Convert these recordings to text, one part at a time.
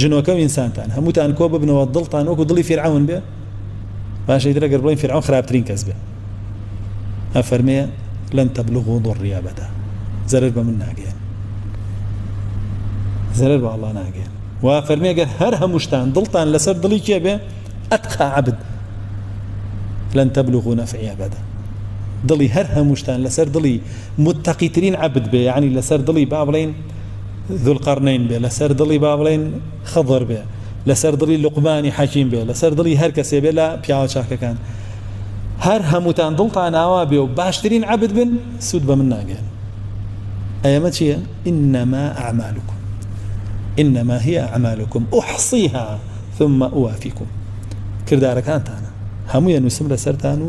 جنۆکە و ئینسانتان هەمووتان کۆ ببنەوە دڵتان وەکو دڵی فیرعون بێ باشە ئیتر ئەگەر بڵێن فیرعون خراپترین کەس بێ ئەفەرمێ لەن تەبلغ و ضڕی ئەبەدا زەرەر بە من ناگەیان زەرەر بە ئەڵڵا ناگەیان و فەرمی ئەگەر هەر هەمووشتان دڵتان لەسەر دڵی کێ بێ ئەتقا عبد لەن تەبلغ و نەفعی ئەبەدا دڵی هەر هەمووشتان لەسەر دڵی متتەقیترین عبد بێ یعنی لەسەر دڵی با بڵین ذوالقرنین بێ لەسەر دڵی با بڵێین خضر بێ لەسەر دڵی لقمانی حەکیم بێ لەسەر دڵی هەر کەسێ بێ لە پیاوە چاکەکان هەر هەمووتان دڵتان ئاوا بێ و باشترین عبد بن سوود بە من ناگەن ئەمە چییە؟ ئینەما ئەعمالکم ئینەما هی ئەعمالکم ئوحصیها ثم ئوافیکم کردارەکانتانە هەموو یە نووسم لەسەرتان و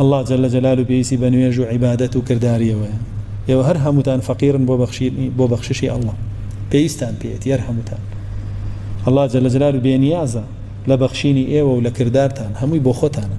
اللە جل جلالو پێویستی بە نوێژ و عیبادەت و کرداریەوەیە ئێوە هەر هەمووتان فەقیرن بۆ بەخشینی بۆ بەخششی اللە پێویستان پێیەتی هەر هەمووتان اللە جل جلالو بێنیازە لە بەخشینی ئێوە و لە کردارتان هەمووی بۆ خۆتانە